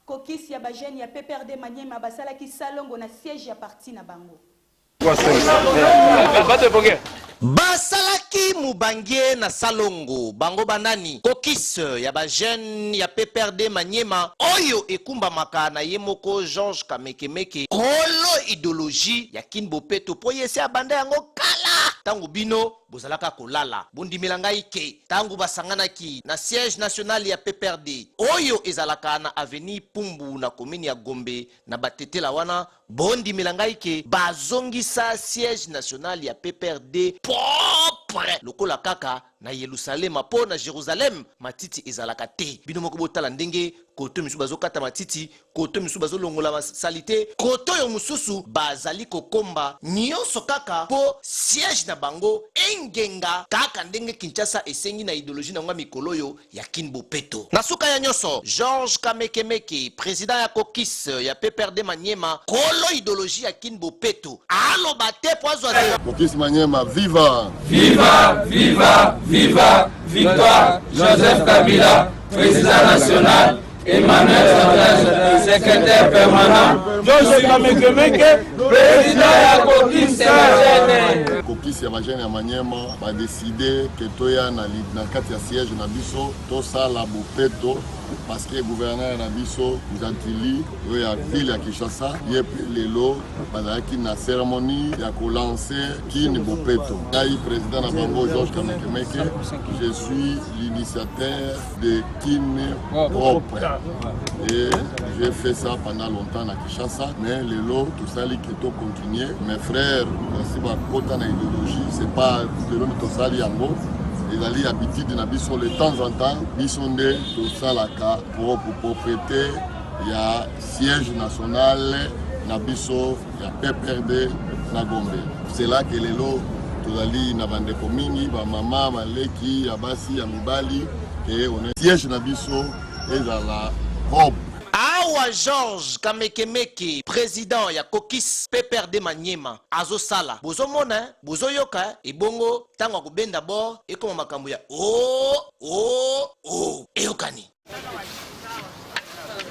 Caucus ya ba jeunes ya PPRD Maniema basalaki salongo na siège ya parti na bango. Basalaki mubange na salongo bango ba nani? Caucus ya ba jeunes ya PPRD Maniema oyo ekumbamaka na ye moko Georges Kamekemeke, kolo ideologie ya Kin Bopeto mpo ye se abanda yango kala tango bino Bozalaka kolala. Bondimela ngai que tangu basanganaki na siège national ya PPRD oyo ezalaka na avenue Pumbu na commune ya Gombe na ba tetela wana, bondimela ngai que bazongisa siège national ya PPRD propre lokola kaka na Yelusalema po na Jerusalem matiti ezalaka te. Bino moko botala ndenge koto misusu bazokata matiti koto mosusu bazolongola basalite koto oyo mosusu bazali kokomba nyonso kaka mpo siège na bango engenga kaka ndenge kinshasa esengi na ideologie na yango ya mikolo oyo ya kin bopeto na suka ya nyonso georges kamekemeke president ya kokis ya pprd maniema kolo ideologie ya kin bopeto aloba te mpo azwa te kokis maniema viva viva viva viva victoire joseph kabila president national Emmanuel Santana, secrétaire permanent. Joseph Kamekemeke, président ya Kokis ya Bajene. Kokis ya Bajene ya Maniema ba décider que toya na na kati ya siège na biso tosala bopeto parce que gouverneur na biso Gentili oyo ya ville ya Kinshasa ye mpe lelo bazalaki na cérémonie ya kolanse kini bopeto. Ngai président na bango Georges Kamekemeke, je suis l'initiateur de Kin propre. Et j'ai fait ça pendant longtemps à Kinshasa, mais les lots, tout ça, les keto continuer. Mes frères, c'est ma quota na idéologie, c'est pas le lot tout ça, yango. ezali habitude na biso de temps en temps biso nde tosalaka mpo propriété ya siège national na biso ya PPRD na Gombe. Cela que lelo tozali na bandeko mingi bamama baleki ya basi ya mibali ke one siège na biso ezala Rome. Awa Georges Kamekemeke president ya Kokis PPRD Maniema azosala bozomona eh, bozoyoka eh. ebongo ntango akobenda bord ekoma makambo ya o oh, o oh, o oh. eyokani